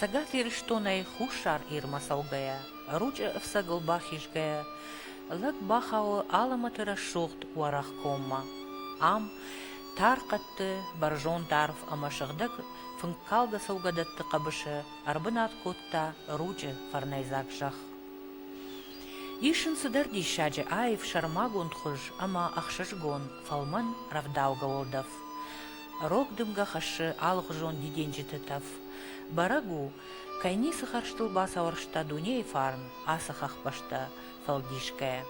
Цӕгат Ирыстонӕй Хуссар Ирмӕ цӕугӕйӕ, Ручъы ӕфцӕгыл бахизгӕйӕ, лӕг бахауы Алымӕты рӕсугъд уӕрӕх коммӕ. Ам тар хъӕдты, бӕрзонд арв ӕмӕ сыгъдӕг фынккалгӕ цӕугӕдӕтты хъӕбысы ӕрбынат кодта Ручъы фӕрнӕйдзаг зӕхх. Ис ын цыдӕр диссаджы аив сӕрмагонд хуыз ӕмӕ ӕхсызгон, фӕлмӕн, рӕвдаугӕ уӕлдӕф. Рог дымгӕ хӕссы алыгъуызон дидинджыты тӕф. Бӕрӕг у, кӕй ницы хӕрзтыл бацауӕрста дунейы фарн ацы хӕхбӕстӕ фӕлдисгӕйӕ.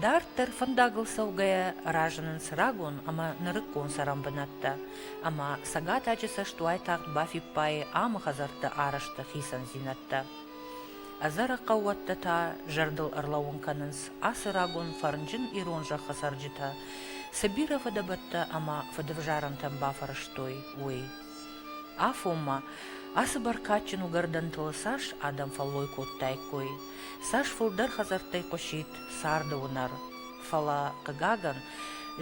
Дарддӕр фӕндагыл цӕугӕйӕ разынынц рагон ӕмӕ нырыккон цӕрӕнбынӕттӕ, ӕмӕ цӕгатаджы цӕст уайтагъд бафиппайы амы хӕдзӕртты арӕзты хицӕндзинӕдтӕ. Ӕдзӕрӕг хъӕууӕттӕ та зӕрдыл ӕрлӕууын кӕнынц ацы рагон фӕрнджын ирон зӕххы цӕрджытӕ цы бирӕ фыдӕбӕттӕ ӕмӕ фыдывзарӕнтӕм бафӕрӕзтой, уый. Афонмӕ ацы бӕркадджын уыгӕрдӕнтыл цас адӕм фӕллой кодтаиккой, цас фылдӕр хӕдзӕрттӕй хъуысид царды уынӕр. Фӕлӕ, хъыгагӕн,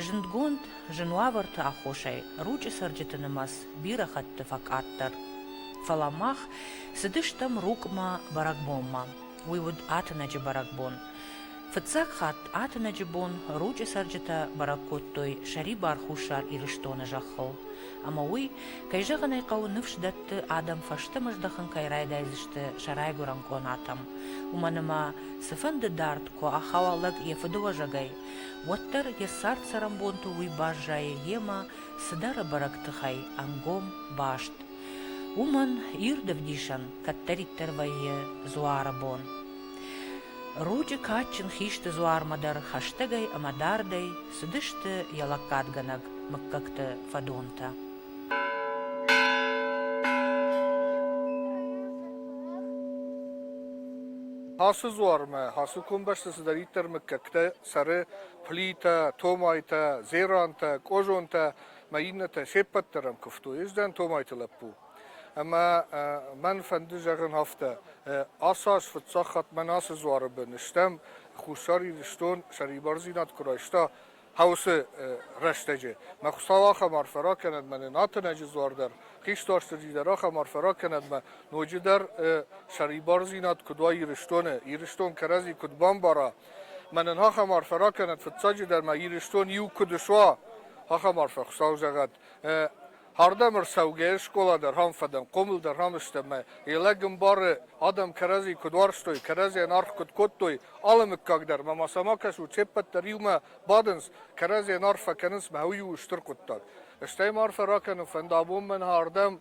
зындгонд зын уавӕрты аххосӕй ручъы цӕрджыты нымӕц бирӕ хатты фӕкъаддӕр. Фӕлӕ мах цыдыстӕм Рукъмӕ бӕрӕгбонмӕ. Уый уыд Атынӕджы бӕрӕгбон. Фыццаг хатт Атынӕджы бон Ручъы цӕрджытӕ бӕрӕг кодтой сӕрибар Хуссар Ирыстоны зӕххыл. Ӕмӕ уый, кӕй зӕгъын ӕй хъӕуы, ныфс дӕтты, адӕм фӕстӕмӕ здӕхын кӕй райдайдзысты сӕ райгуырӕн къонатӕм. Уымӕн ӕмӕ, цыфӕнды дард куы ахауа лӕг йӕ фыдыуӕзӕгӕй, уӕддӕр йӕ цард-цӕрӕнбонты уый баззайы йемӕ цыдӕр бӕрӕг тыхӕй ӕнгом баст, уымӕн ирд ӕвдисӕн кӕддӕриддӕр вӕййы дзуары бон. Ручъы кадджын хисты дзуармӕ дӕр хӕстӕгӕй ӕмӕ дардӕй цыдысты йӕ лӕггадгӕнӕг мыггӕгты фӕдонтӕ. Ацы дзуармӕ, ацы комбӕсты цыдӕриддӕр мыггӕгтӕ цӕры Плитӕ, Томайтӕ, Зерантӕ, Къозонтӕ мӕ иннӕтӕ се ппӕт дӕр ӕм куывтой. Ӕз дӕн Томайты лӕппу. Ӕмӕ мӕн фӕнды зӕгъын афтӕ, ацы аз фыццаг хатт мӕн ацы дзуары бын стӕм, Хуссар Ирыстон сӕрибардзинад куы райста хъӕусы рӕстӕджы. Мӕ Хуыцау ахӕм арфӕ ракӕнӕд мӕнӕн Атынӕджы дзуар дӕр, хистӕрстыджы дӕр ахӕм арфӕ ракӕнӕд мӕ ноджыдӕр сӕрибардзинад куыд уа Ирыстоны, Ирыстон кӕрӕдзи куыд бамбара, Мӕнӕн ахӕм арфӕ ракӕнӕд, фыццаджыдӕр ма Ирыстон иу куыд суа, ахӕм арфӕ, Хуыцау зӕгъӕд. Ардӕм ӕрцӕугӕ скъола дӕр ам фӕдӕн, хъомыл дӕр ам сты ӕмӕ йӕ лӕг ӕмбары, адӕм кӕрӕдзи куыд уарзтой, кӕрӕдзийӕн аргъ куыд кодтой, алы мыггаг дӕр ма ма сӕма кӕсут, се ппӕт дӕр иумӕ бадынц, кӕрӕдзийӕн арфӕ кӕнынц, мӕ уый у стыр хъуыддаг. Стӕй ма арфӕ ракӕнын фӕнды абон мӕн ардӕм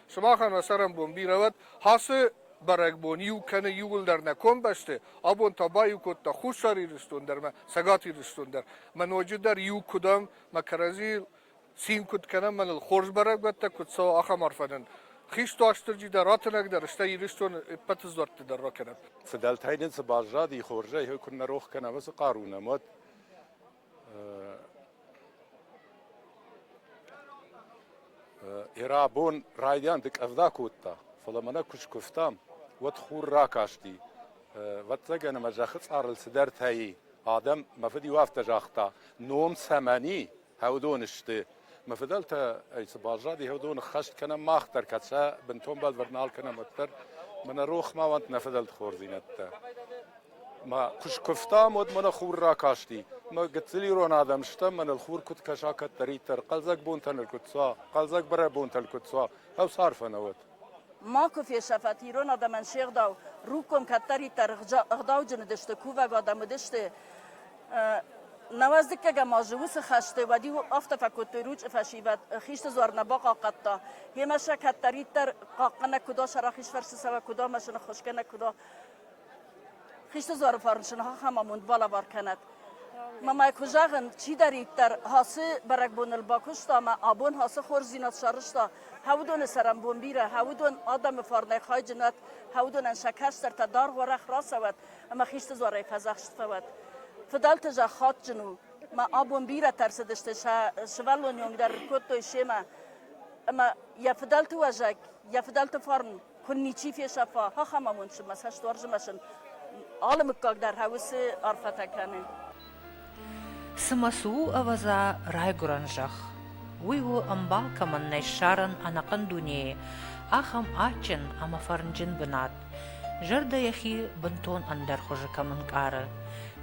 Сымахӕн ацарӕнбон бирӕ уӕд, ацы бӕрӕгбон иу кӕны иууылдӕр нӕ комбӕсты, абон та баиу кодта Хуссар Ирыстон дӕр мӕ Цӕгат Ирыстон дӕр. Мӕ ноджыдӕр иу куыд ам, мӕ кӕрӕдзийыл цин куыд кӕнӕм, мӕныл хорз бӕрӕгбӕттӕ куыд цӕуы, ахӕм арфӕ нын хист Уастырджи дӕр, ратынӕгдӕр, стӕй Ирыстоны ӕппӕты дзуӕртты дӕр ракӕнӕм. Фыдӕлтӕй нын цы баззади, хорзӕй куыннӕ рох кӕнӕм ацы хъару нӕм, уӕд Ерӕбон райдианты къӕвда кодта, фӕлӕ мӕнӕ куы скуывтам, уӕд хур ракасти. Вӕццӕгӕн ӕмӕ зӕххы цъарыл цыдӕртӕй адӕм, мӕ фыд иу афтӕ загъта, ном цӕмӕн и, хӕудон сты. Мӕ фыдӕлтӕ ӕй цы баззади, хӕудон ӕххӕст кӕнӕм мах дӕр, кӕд сӕ бынтон бӕлвырд нал кӕнӕм, уӕддӕр. Мӕнӕ рох ма уӕнт нӕ фыдӕлты хорздзинӕдтӕ. Мӕ куы скуывтам, уӕд мӕнӕ хур ракасти. Мӕ гыццыл ирон адӕм стӕм, мӕныл хур куыд кӕса кӕддӕриддӕр, хъӕлдзӕг бонтӕн ыл куыд цуа, хъӕлдзӕг барӕбонтӕ ыл куыд цуа, ау, цы арфӕ нӕ уӕд? Ма куы фесӕфат ирон адӕмӕн се гъдау. Руккон кӕддӕриддӕр ӕгъдауджын уыдысты, кувӕг адӕм уыдысты. Науӕздыггӕгӕм азы уыцы хӕсты уӕд-иу афтӕ фӕкодтой, ручъы фӕсивӕд хисты дзуар нӕ бахъахъхъӕдта, йемӕ сӕ кӕддӕриддӕр хъахъхъӕнӕг куы уа, сӕ рахиз фӕрцы цӕуӕг куы уа, машинӕ ххуысгӕнӕг куы уа. Хисты дзуары фарнсын ахӕм амонд балӕвар кӕнӕд. Мамӕ куы зӕгъын, чидӕриддӕр ацы бӕрӕгбоныл бакуыста ӕмӕ абон ацы хорздзинад сарызта, хӕуыдоны цӕрӕнбон бирӕ, хӕуыдон адӕмы фарнӕй хайджынӕт, хӕуыдонӕн сӕ кӕстӕртӕ дӕргъ уӕрӕх рацӕуӕт ӕмӕ хисты дзуарӕй фӕдзӕхст фӕуӕт. Фыдӕлты зӕхх адджын у. Мӕ абон бирӕтӕ ӕрцыдысты, сӕ сывӕллоны онг дӕр кодтой семӕ. Ӕмӕ йӕ фыдӕлты уӕзӕг, йӕ фыдӕлты фарн куы ничи фесӕфа, ахӕм амондсымӕ цӕстуарзымӕсын алы мыггаг дӕр хъӕуы арфӕтӕ кӕны. Цымӕ цы у, ӕвӕдза, райгуырӕн зӕхх? Уый у, ӕмбал кӕмӕн нӕй ссарӕн ӕнӕхъӕн дунейы, ахӕм адджын ӕмӕ фӕрнджын бынат. Зӕрдӕ йӕхи бынтон ӕндӕр хуызы кӕм ӕнкъары,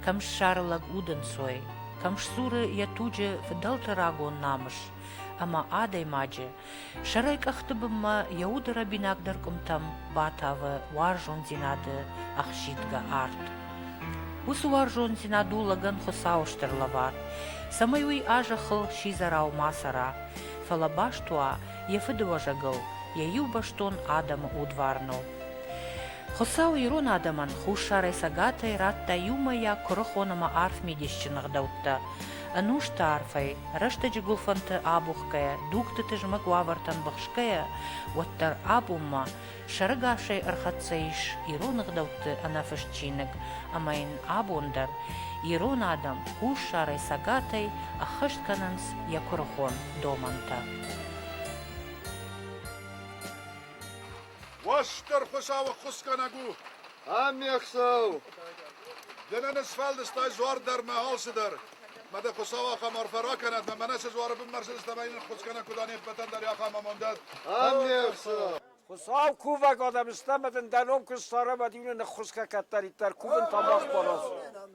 кӕм ссары лӕг удӕнцой, кӕм сдзуры йӕ туджы фыдӕлты рагон намыс ӕмӕ адӕймаджы, Сӕрӕй къӕхты бынмӕ йӕ уды рӕбинагдӕр къуымтӕм батавы уарзондзинады ӕхсидгӕ арт. Уыцы уарзондзинад у лӕгӕн Хуыцауы стыр лӕвар, цӕмӕй уый а-зӕххыл сидзӕрау ма цӕра, фӕлӕ баст уа йӕ фыдыуӕзӕгыл, йӕ иубӕстон адӕмы удварныл. Хуыцау ирон адӕмӕн хуссарӕй цӕгатӕй радта иумӕйаг куырыхон ӕмӕ арф мидисджын ӕгъдӕуттӕ, ӕнусты арфӕй, рӕстӕджы гуылфӕнты абухгӕйӕ, дугты тызмӕг уавӕртӕм быхсгӕйӕ, уӕддӕр абонмӕ сӕрыгасӕй ӕрхӕццӕ ис ирон ӕгъдӕутты ӕнӕфыст чиныг ӕмӕ йын абон дӕр ирон адӕм хуссарӕй, цӕгатӕй ӕххӕст кӕнынц йӕ куырыхон домӕнтӕ. Уосдӕр Хуыцауы ххуысгӕнӕг у, Ӕмме Хуцау! Де нӕ нысфӕлдыстай жуар дӕр мӕ алчи дӕр. Ма дӕ Хуцау ахӕм арфӕ ракӕнӕд, ӕма мӕнӕ се жуары бын мӕрсидзис ӕма йин хуц кӕнӕ куд анеппӕтӕн дӕр ахӕм амондӕд. Ӕмме Хуцау! Хуцау кувӕг адӕм ста, ӕма дин дӕ ном куст сара ӕма дин ныххусгӕ кӕддӕриддӕр кувын тамах барас.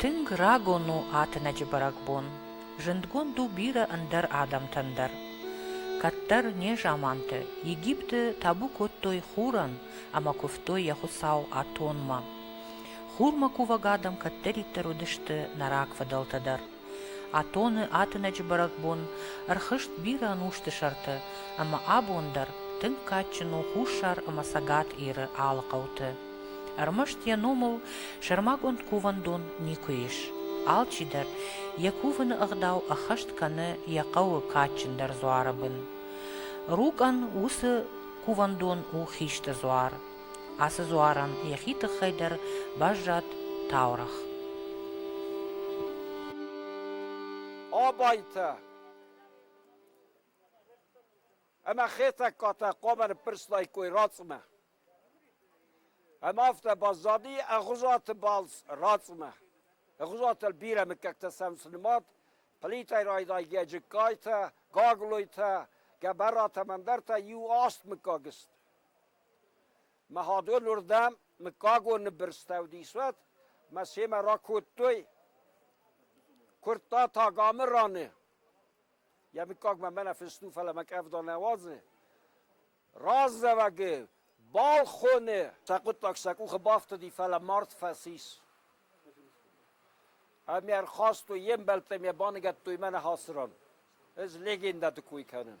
Тынг рагон у ӕтынӕджы бӕрӕгбон. Зындгонд у бирӕ ӕндӕр адӕмтӕн дӕр. Кӕддӕр незаманты Египты табу кодтой хурӕн ӕмӕ куывтой йӕ хуыцау Атонмӕ. Хурмӕ кувӕг адӕм кӕддӕриддӕр уыдысты нӕ рагфыдӕлтӕ дӕр. Атоны атынӕджы бӕрӕгбон ӕрхызт бирӕ ӕнусты сӕрты, ӕмӕ абон дӕр тынг кадджын у Хуссар ӕмӕ Цӕгат Иры алы хъӕуты. Ӕрмӕст йӕ номыл сӕрмагонд кувӕндон никуы ис. Алчидӕр йӕ кувыны ӕгъдау ӕххӕст кӕны йӕ хъӕуы кадджындӕр дзуары бын. Рукъӕн уыцы кувӕндон у хисты дзуар. Ацы дзуарӕн йӕхи тыххӕй дӕр баззад таурӕгъ. Абайтӕ ӕмӕ Хетӕгкатӕ хъуамӕ ныппӕрстлаиккой рацъымӕ. Ӕмӕ афтӕ баззади Ӕгъуызаты балц рацъымӕ. Ӕгъуызатыл бирӕ мыггӕгтӕ сӕм цы нымад, Плитӕй райдайгӕ Джыккайтӕ, Гаглойтӕ, Гӕбӕратӕм ӕндӕртӕ иу аст мыггаг сты. Мӕгъӕдон уырдӕм мыггагон ныббырстӕу дисуат мӕ семӕ ракодтой. Куырдта Тагамы раны. Йӕ мыггагмӕ мӕнӕ фыст у, фӕлӕ мӕ къӕвда нӕ уадзы. Раздзӕвӕгы балхоны сӕ хъуыддаг сӕ къухы бафтыди, фӕлӕ мард фӕцис. Ами ӕрхастой, йе мбӕлттӕм йӕ баныгӕдтой мӕнӕ Хасыран. Ez legendát кой кӕнын.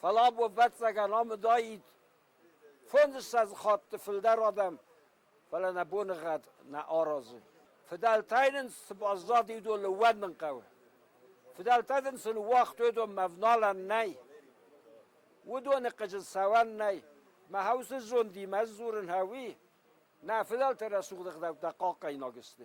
Фӕлӕ ӕвӕццӕгӕн ам уыдаид фондзыссӕдз хатты фылдӕр адӕм, фӕлӕ нӕ боныгъӕд нӕ аразы. Фыдӕлтӕй нын цы баззади, уыдон лӕууӕнмын хъӕуы. Фыдӕлтӕ дын сын уагътой уыдонмӕ ӕвналӕн нӕй. Уыдоны хъызын цӕуӕн нӕй. Мӕ хӕусы зондимӕ дзурын хъӕуы. Нӕ фыдӕлты рӕсугъд ӕгъдӕуттӕ хъахъхъӕнаг сты.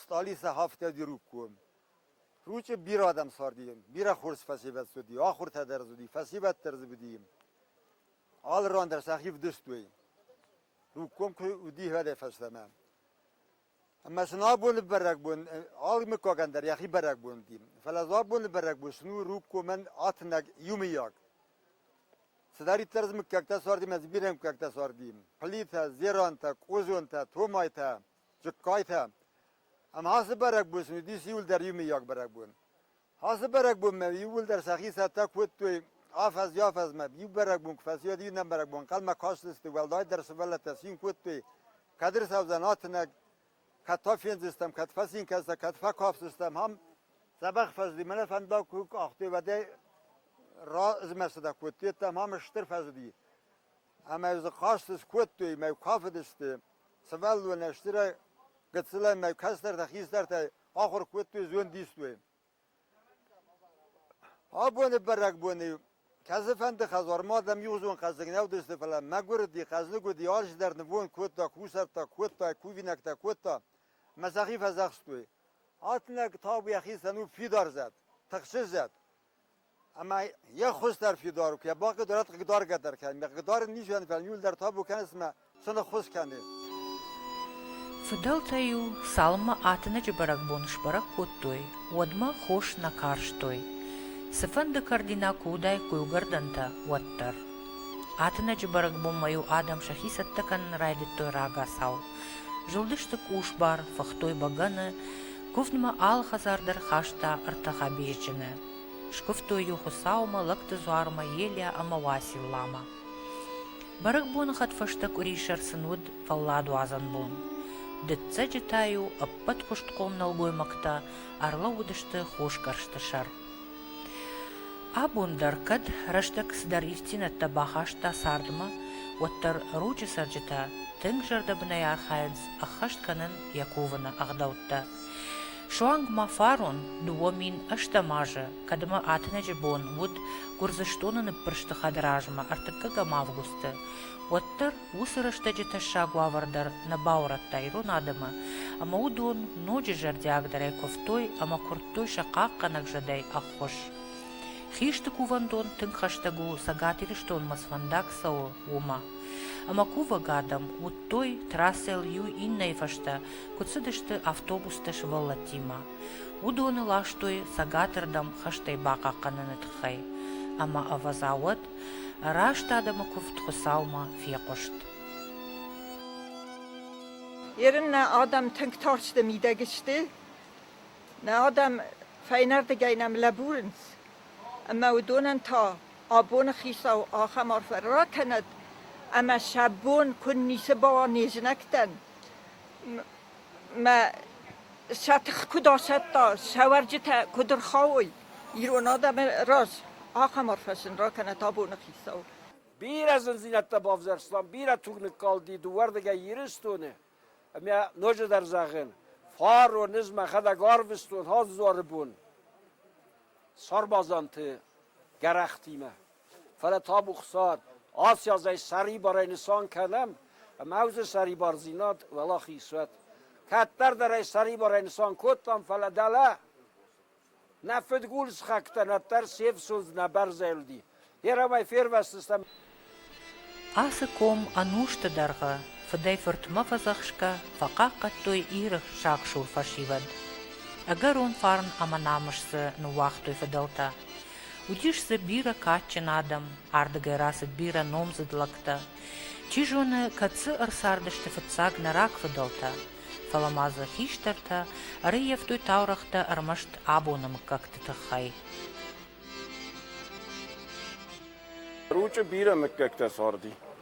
Стъали сӕ афтӕ диругкон. Ручъи бирӕ адӕм царди, бирӕ хорз фӕсевӕд цуди, ахуртӕ дӕр цуди, фӕсевӕд дӕр дзы буди. Алы ран дӕр сӕхи вдыстуй. Ругком кой уди гъӕдӕй фӕстӕмӕ. Ӕма сын абони бӕрӕгбон, алы миккагӕн дӕр йӕхи бӕрӕгбон уди. Фӕлӕ дзы абони бӕрӕгбон син у ругкомӕн атынӕг иумийаг. Цыдӕриддӕр дзы мыггӕгтӕ царди, мӕ дзы бирӕ мыггӕгтӕ царди. Плитӕ, зерантӕ, къозонтӕ, томайтӕ, Джыккайтӕ. Ӕма ацы бӕрӕгбон сын уидис иууылдӕр иумийаг бӕрӕгбон. Ацы бӕрӕгбонмӕ иууылдӕр сӕхи цӕттӕ кодтой афӕдз афӕдзмӕ иу бӕрӕгбон куы фӕцйод иннӕ бӕрӕгбон, хъӕлмӕ кастысты, уӕлдайдӕр сывӕллӕттӕ цин кодтой, кӕд ӕрцӕудзӕн атынӕг, кӕд фӕффендзыстӕм, кӕд фӕцин кӕндзыстӕм, кӕд фӕкафдзыстӕм, ам дзӕбӕх фӕзыди, мӕнӕ фӕндаг куы къахтой, уӕдӕй размӕрстытӕ кодтой, ам стыр фӕзыди. Ӕмӕ дзы хъазт скодтой мӕ куы афыдысты, сывӕллоны стырӕй, гыццылӕй мӕ кӕстӕртӕ, хистӕртӕй ахуыр кодтой зондистой. Абоны бӕрӕгбоны кӕцыфӕнды хӕдзармӕ адӕм иугъуызон хъӕздыг не вдысты, фӕлӕ мӕгуырди, хъӕздыг уыди, арӕзтдӕр нывонд кодта, кусӕрттӕ кодта, кувинӕгтӕ кодта мӕ сӕхи фӕдзӕхстой. Ӕтынӕг табу йӕхицӕн у фидар зӕд, тыхсы зӕд. Ӕма е хуздӕр фидар ку кӕна, ба хъидорат хъигдаргӕдӕр кӕни, ме хъигдарын низӕн, фал ниулдӕр табу кӕнис ӕма цунӕххуз кӕни. Фыдӕлтӕ-иу цалынмӕ Атынӕджы бӕрӕгбон сбӕрӕг кодтой, уӕдмӕ хос нӕ карстой, цыфӕнды кӕрдинаг куы уыдаид куылгӕрдӕнтӕ, уӕддӕр. Атынӕджы бӕрӕгбонмӕ-иу адӕм сӕхи цӕттӕ кӕнын райдыдтой рагацау. Зылдысты къусбар, фыхтой бӕгӕны, Куывдмӕ алы хӕдзар дӕр хаста ӕртӕ хӕбизджыны. Скуывтой-иу Хуыцаумӕ, лӕгты дзуармӕ, Елиа ӕмӕ Уасилламӕ. Бӕрӕгбоны хӕдфӕстӕ къуырисӕр сын уыд фӕлладуадзӕн бон. Дыццӕджы та-иу ӕппӕтхъуыстхъом нӕлгоймӕгтӕ ӕрлӕууыдысты хосгӕрсты сӕр. Абон дӕр кӕд рӕстӕг цыдӕр ифтингӕттӕ бахаста цардмӕ, уӕддӕр Ручъы цӕрджытӕ тынг зӕрдӕбынӕй архайынц ӕххӕст кӕнын йӕ кувыны ӕгъдӕуттӕ. Суанг ма фарон дыууӕ мин ӕстӕм азы, кӕдмӕ Атынӕджы бон уыд Гуырдзыстоны ныппырсты хӕдразмӕ ӕртыккӕгӕм августы, уӕддӕр Уыцы рӕстӕджы тӕссаг уавӕр дӕр нӕ баурӕдта ирон адӕмы, ӕмӕ уыдон ноджы зӕрдиагдӕрӕй куывтой ӕмӕ куырдтой сӕ хъахъхъӕнӕг зӕдӕй ӕххуыс. Хисты кувӕндон тынг хӕстӕг у Цӕгат Ирыстонмӕ сфӕндаг цӕуы, уымӕ. Ӕмӕ кувӕг адӕм уыдтой, трассӕйыл иу иннӕйы фӕстӕ куыд цыдысты автобустӕ сывӕллӕттимӕ. Уыдоны ластой цӕгатырдӕм хӕстӕй бахъахъхъӕныны тыххӕй. Ӕмӕ ӕвӕдза уӕд, Раст адӕмы куывд Хуыцаумӕ фехъуыст. Ерын нӕ адӕм тынг тарсты мидӕг сты. Нӕ адӕм фӕйнӕрдыгӕй нӕм лӕбурынц. Ӕмӕ уыдонӕн та абоны хицау ахӕм арфӕ ракӕнӕд, ӕмӕ сӕ бон куыд ницы бауа не знӕгтӕн. мӕ сӕ тых куыд асӕтта, сӕ уӕрджытӕ куыд ӕрхауой ирон адӕмы раз, ахӕм арфӕ сын ракӕнӕт абоны хицау. Бирӕ зындзинӕдтӕ бавзӕрстам, бирӕ туг ныккалди дыууӕрдыгӕй Ирыстоны. Ӕмӕ ноджыдӕр зӕгъын, фарон ӕз мӕхӕдӕг арвыстон Хӕдзары бон сармадзанты гӕрӕхтимӕ. Фӕлӕ табу Хуцауӕн, аци аз ӕй сӕрибарӕй нисан кӕнӕм, ӕма уыдзӕн сӕрибардзинад уӕлахиз уӕд. Кӕддӕрдӕр ӕй сӕрибарӕй нисан кодтам, фӕлӕ дӕлӕ нӕ фыдгул схӕгтӕн ӕддӕр се фсундз нӕ бӕрзӕлди. Ерамӕй фервӕсдзыстӕм. Ацы ком ӕнусты дӕргъы фыдӕй-фыртмӕ фӕдзӕхсгӕ фӕхъахъхъӕдтой Иры сагсур фӕсивӕд. Ӕгӕрон фарн ӕмӕ намыс дзы ныууагътой фыдӕлтӕ. Уыдис дзы бирӕ кадджын адӕм, ардыгӕй рацыд бирӕ номдзыд лӕгтӕ. Чи зоны, кӕд дзы ӕрцардысты фыццаг нӕ рагфыдӕлтӕ, фӕлӕ ма дзы хистӕртӕ ӕрыййӕфтой таурӕгътӕ ӕрмӕст абоны мыггӕгты тыххӕй. Ручъы бирӕ мыггӕгтӕ царди.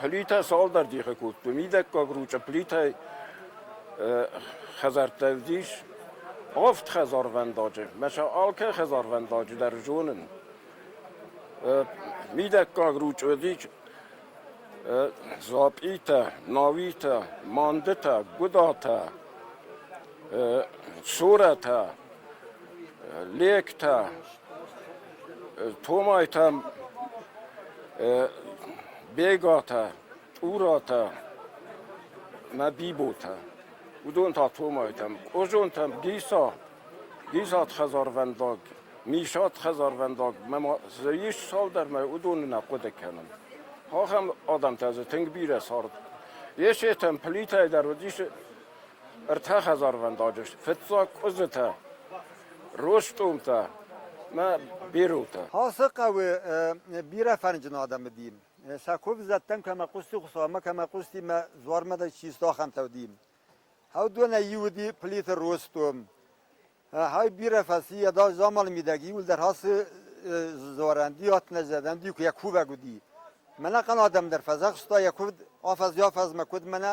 Плитӕ цалдӕр дихи кодтон. Мидӕггаг ручъа плитӕй хӕдзӕрттӕ уыдис. Авд хӕдзарвӕндаджы. Мӕ сӕ алкӕ хӕдзарвӕндаджы дӕр зонын. Мидӕггаг ручъа уыдис дзапъитӕ, науитӕ, мандытӕ, гуыдатӕ, сорӕтӕ, легтӕ. Томайтӕ, Бегатӕ, Тъуратӕ, Мӕдиботӕ, уыдон та Томайтӕм, Къозонтӕм, Гиса, Гисат хӕдзарвӕндаг, Мисат хӕдзарвӕндаг, мӕ дзы ис цалдӕр мӕ уыдоны нӕ хъуыды кӕнын. Ахӕм адӕмтӕ дзы тынг бирӕ цард. Есетӕн Плитӕй дӕр уыдис Ӕртӕ хӕдзарвӕндаджы сты: фыццаг къуызытӕ, ростъомтӕ ӕмӕ биротӕ. Ацы хъӕуы бирӕ фӕрнджын адӕм уыди. Сӕ куывзӕттӕм кӕмӕ хъуысти Хуыцаумӕ, кӕмӕ хъуысти мӕ дзуармӕ дӕр чи сты, ахӕмтӕ уыди. Хаудонӕй иу уыди Плиты Ростъом. Хай бирӕ фӕци, ӕдас заманы мидӕг иууылдӕр ацы дзуарӕнди, ӕтнӕзӕрдӕнди куы йӕ кувӕг уыди. Мӕнӕ хъан адӕм дӕр фӕдзӕхста йӕ куывд афӕдз-афӕдзмӕ, куыд мӕнӕ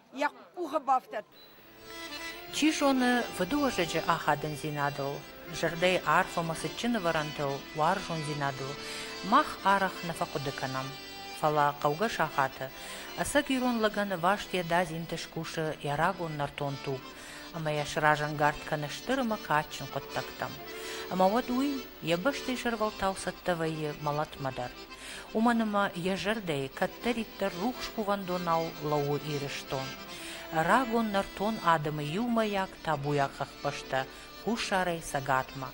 йӕ къухы бафтӕд. Чи зоны, фыдыуӕзӕджы ахадындзинадыл, зӕрдӕйы арфӕмӕ цытджын ӕвӕрӕнтыл, уарзондзинадыл мах арӕх нӕ фӕхъуыды кӕнӕм. Фӕлӕ хъӕугӕ сахаты ӕцӕг ирон лӕгӕн ӕваст йӕ дадзинты скусы йӕ рагон нӕртон туг ӕмӕ йӕ сразӕнгард кӕны стыр ӕмӕ кадджын хъуыддӕгтӕм. Ӕмӕ уӕд уый йӕ бӕстӕйы сӕрвӕлтау цӕттӕ вӕййы мӕлӕтмӕ дӕр. уымӕн ӕмӕ йӕ зӕрдӕйы кӕддӕриддӕр рухс кувӕндонау лӕууы Ирыстон. Рагон нӕртон адӕмы иумӕйаг табуйаг хӕхбӕстӕ хуссарӕй цӕгатмӕ.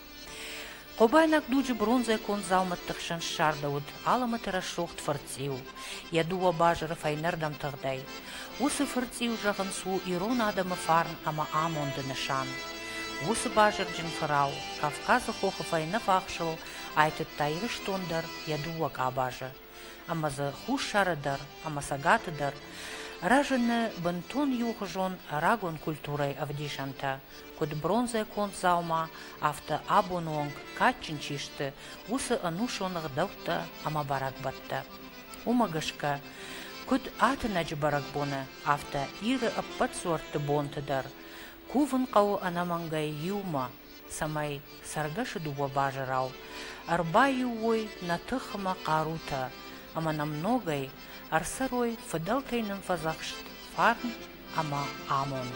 Хъобайнаг дуджы бронзӕ конд дзаумӕтты хсӕн ссардӕуыд Алӕмӕты рӕсугъд фырцъиу, йӕ дыууӕ базыры фӕйнӕрдӕм тыгъдӕй. Уыцы фырцъиу, зӕгъынц, у ирон адӕмы фарн ӕмӕ амонды нысан. Уыцы базырджын фырау Кавказы хохы фӕйнӕфахсыл Айтыдта Ирыстон дӕр йӕ дыууӕ къабазы, ӕмӕ дзы Хуссары дӕр ӕмӕ Цӕгаты дӕр рӕзыны бынтон иухуызон рагон культурӕйы ӕвдисӕнтӕ, куыд бронзӕ конд дзаума, афтӕ абоны онг кадджын чи сты, уыцы ӕнусон ӕгъдӕуттӕ ӕмӕ бӕрӕгбӕттӕ. Уымӕ гӕсгӕ, куыд ӕтынӕджы бӕрӕгбоны, афтӕ Иры ӕппӕт дзуӕртты бонты дӕр кувын хъӕуы ӕнӕмӕнгӕй иумӕ, цӕмӕй цӕргӕсы дыууӕ базырау ӕрбаиу уой нӕ тыхмӕ хъарутӕ ӕмӕ нӕм ногӕй ӕрцӕрой фыдӕлтӕй нын фӕдзӕхст фарн ӕмӕ амонд.